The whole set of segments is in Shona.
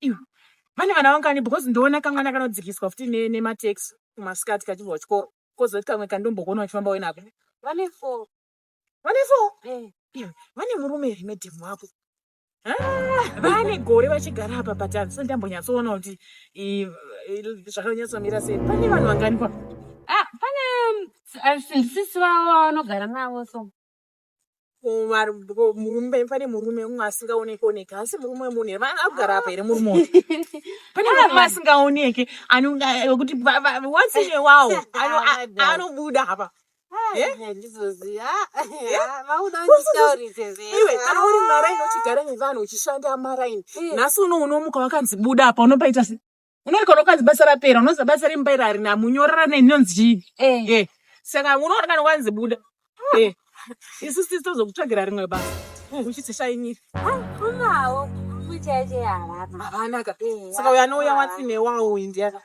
iwe vane vana vangani because ndoona kamwana kanodzikiswa futi ne- nemataxi kumasikati kachibva kuchikoro kozoti kamwe kandombokuona uchifamba uye nako vane four vane four Eh, iwe vane murume here medhemu wako Ah, vane gore vachigara apa but handisati ndambonyatsoona kuti i- i- zvakanyatsomira sei pane vanhu vangani kwa ah pane um, s- uh, sisi vavo vanogara navo so murume pane murume umwe asingaoneke oneke asi murume wemunhu here agara apa here murume uyu pane murume asingaoneke anokuti watsine wawo anobuda apa kana uri maraini uchigara nevanhu uchishanda maraini nhasi uno unomuka wakanzi buda apa unopaita se unoti kana ukanzi basa rapera unozi basa remumba iri harina munyorera nei ndinonzi chii Eh. Eh, saka unoona kana wanzi buda Eh, isu sisi tozokutsvagira rimwe basa uchiti shainira Unawo kuita yacho yaharapa. havanaka Eh, saka uyo anouya wati newawo uyu ndiyani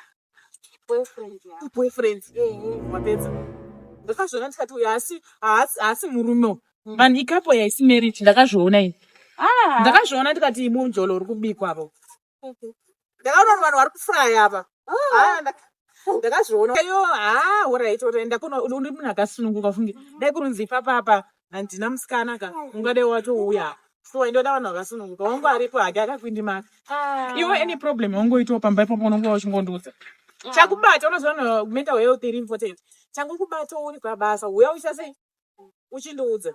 boyfriend yako. boyfriend Eh, wapedza ndakazviona ndikati uyu haasi haasi haasi murume uyu vanhu ikapo yaisi marriage ndakazviona ini ah. ndakazviona ndikati munjolo uri kubikwa avo ndakaona vanhu vari kufuraya apa ndakazviona yo haa horaiti orai ndakunouri munhu akasununguka funge dai kurunzi ipapapa handina musikana ka ungadai watouya so ndoda vanhu vakasununguka wangu aripo hake akakwindimaka ah. iwe any problem wangoitawo pamba ipapo unonga wachingondiudza ah. chakubata unozoona mental health iri important changokubata uri pabasa uya uchase uchindiudza